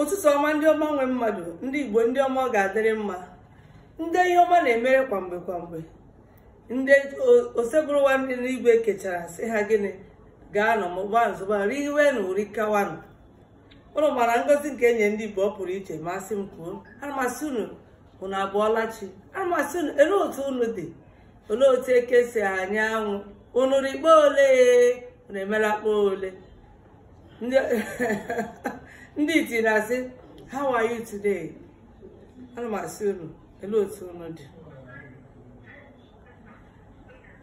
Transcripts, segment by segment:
ụtụtụ ọma ndị ọma nwe mmadụ ndị igbo ndị ọma ọ ga-adịrị mma ndị ihe ọma na-emere kwa mgbe kwa mgbe ndị osebụrụwa dị n'igwe kechara sị ha gịnị gaanụ mụba zụba riwenụ uri kawanụ ụnụ ma na ngozi nke e nye ndị igbo ọ pụrụ iche m sị m kwuo ana m asị unu unu abọọla chi ana m asị unu elee otu unu dị olee otu eke si anya anwụ unu rị kpo ole unu emela kpo ole ndị iti na-asị how are you today ana m asị unu olee otu unu dị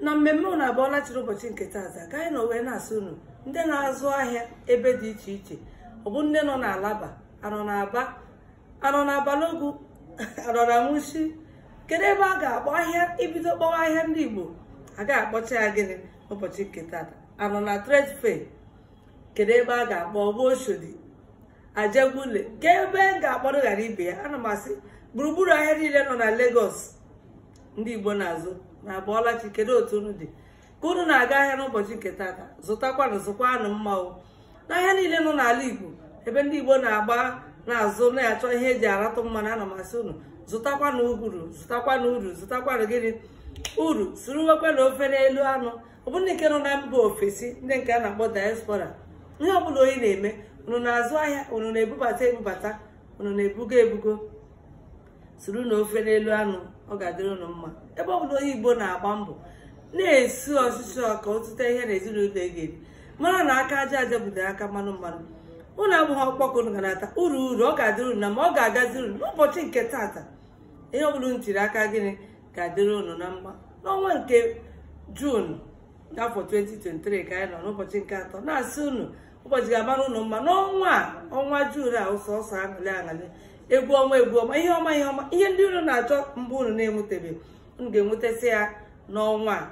na mmemme unu abọọla chi rị ụbọchị nke tata ka anyị nọ wee na-asị unu ndị na-azụ ahịa ebe dị iche iche ọ bụ ndị nọ n'alaba a nọ n'aba a nọ na balogun a nọ na mushin kedu ebe a ga-akpọ ahịa e bido kpọwa ahịa ndị igbo a ga-akpọcha ya gịnị ụbọchị nke tata a nọ na trade fair kedu ebe a ga-akpọ ọ bụ oshodi ajegunle kee ebe m ga-akpọrọ ghara ibe ya ana m asị gburugburu ahịa niile nọ na Lagos ndị igbo na-azụ unu abọọla chi kedu otu unu dị ka unu na-aga ahịa n'ụbọchị nke tata zụtakwanụ zụkwanụ mma o ahịa niile nọ n'ala igbo ebe ndị igbo na-agba na-azụ na-achọ ihe e ji aratụ mmanụ ana m asị unu zụtakwanụ uru zụtakwanụ uru zụtakwanụ gịnị uru suruwekwanụ ofe n'elu anụ ọ bụ ndị nke nọ na mba ofesi ndị nke a na-akpọ diaspora ihe ọbụla onye na-eme unu na-azụ ahịa unu na-ebubata ebubata unu na-ebugo ebugo surunụ ofe n'elu anụ ọ ga-adịrị ụnụ mma ebe ọ bụla onye igbo na-agba mbọ na-esu ọsịsọ ka ọ tụta ihe na ezinụlọ ga-eri mara na aka aja aja bute aka mmanụ mmanụ ụnụ agbaghị ọkpụkpụ ụnụ ga na-ata uru uru ọ ga-adịrị ụnụ na mma ọ ga-agaziri ụnụ n'ụbọchị nke tata ihe ọ bụla ụnụ tiri aka gịnị ga-adịrị ụnụ na mma n'ọnwa nke juun n'afọ 2023 ka anyị nọ n'ụbọchị nke atọ na-asị ụnụ ụbọchị ga-amara unu mma n'ọnwa a ọnwa juun a sọsọ aṅụlị aṅụlị egwu ọma egwu ọma ihe ọma ihe ọma ihe ndị unu na-achọ mgbe unu na-enwetebe unu ga-enwetasị ya n'ọnwa a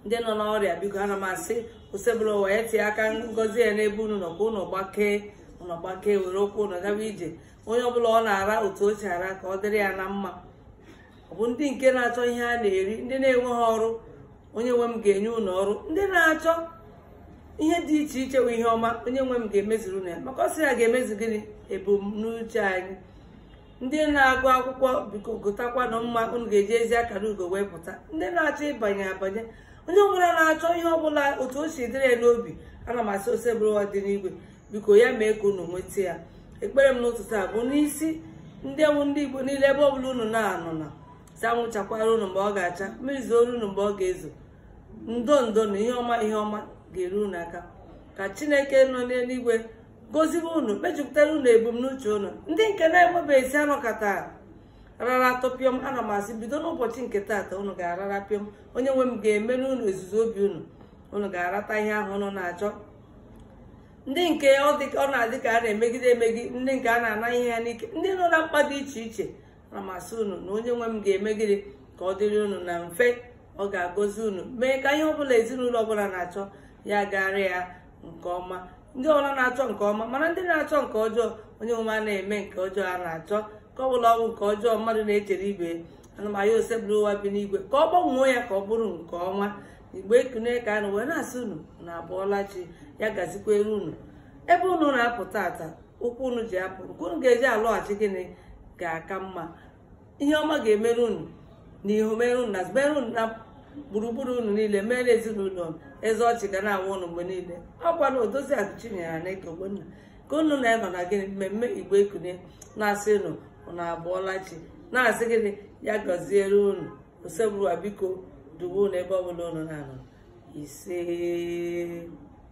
ndị nọ n'ọrịa biko ana m asị osebụlụwa ya tie aka ngozi ya n'ebe unu nọ ka unu gbakee unu gbakee were ụkwụ unu gawa ije onye ọbụla ọ na-ara otu o si ara ka ọ dịrị ya na mma ọ bụ ndị nke na-achọ ihe a na-eri ndị na-enweghị ọrụ onye nwe m ga-enye unu ọrụ ndị na-achọ ihe dị iche iche bụ ihe ọma onye nwe m ga-emezuru unu ya maka ọ sị ya ga-emezu gịnị ebumnuche anyị ndị na-agụ akwụkwọ biko gụtakwanụ mma unu ga-eji ezi akara ugo wee pụta ndị na-achọ ịbanye abanye onye ọbụla na-achọ ihe ọbụla otu o si dịrị ya n'obi ana m asị osebụrụwa dị n'igwe biko ya mee ka unu nweta ya ekpere m n'ụtụtụ a bụ n'isi ndị wụ ndị igbo niile ebe ọbụla unu na-anọ na si anwụ chakwara unu mgbe ọ ga-acha mmiri zooro unu mgbe ọ ga-ezo ndo ndo na ihe ọma ihe ọma ga-eru unu aka ka chineke nọ n'eluigwe gozibe unu mejupụtara unu ebumnuche unu ndị nke na-enwebeghị isi anọkọta rara tọpịọm ana m asị bido n'ụbọchị nke taata unu ga-arara pịọm onye nwe m ga-emere unu izuzu obi unu unu ga-arata ihe ahụ unu na-achọ ndị nke ọ na-adị ka a na-emegide emegide ndị nke a na-ana ihe ha n'ike ndị nọ na mkpa dị iche iche ana m asị unu na onye nwe m ga-eme gịnị ka ọ dịrị unu na mfe ọ ga-agọzi unu mee ka ihe ọbụla ezinụlọ ọbụla na-achọ ya gaara ya nke ọma ndị ọbụla na-achọ nke ọma mana ndị na-achọ nke ọjọọ onye nwe m a na-eme nke ọjọọ a na-achọ ka ọ bụla ọgwụ nke ọjọọ mmadụ na-echere ibe ya ana m ayọ osebụrụwa bi n'igwe ka ọ gbanwee ya ka ọ bụrụ nke ọma igbo ekunie ka anyị wee na-asị unu unu abụọla chi ya gazikwere unu ebe unu na-apụ taata ụkwụ unu ji apụ ka unu ga-eji alọghachi gịnị ga-aka mma ihe ọma ga-emere unu na ihu mere unu na mere unu na gburugburu unu niile mere ezinụlọ unu eze ọchị ga na-awa unu mgbe niile ọ bụkwa odoziakụ chinyere aneke ogbonna ka unu na ya nọ na gịnị mmemme igbo ekunie na-asị unu unu abụọla chi na-asị gịnị ya gaziere unu osebụrụwa biko duwe unu ebe ọ bụla unu na-anọ ise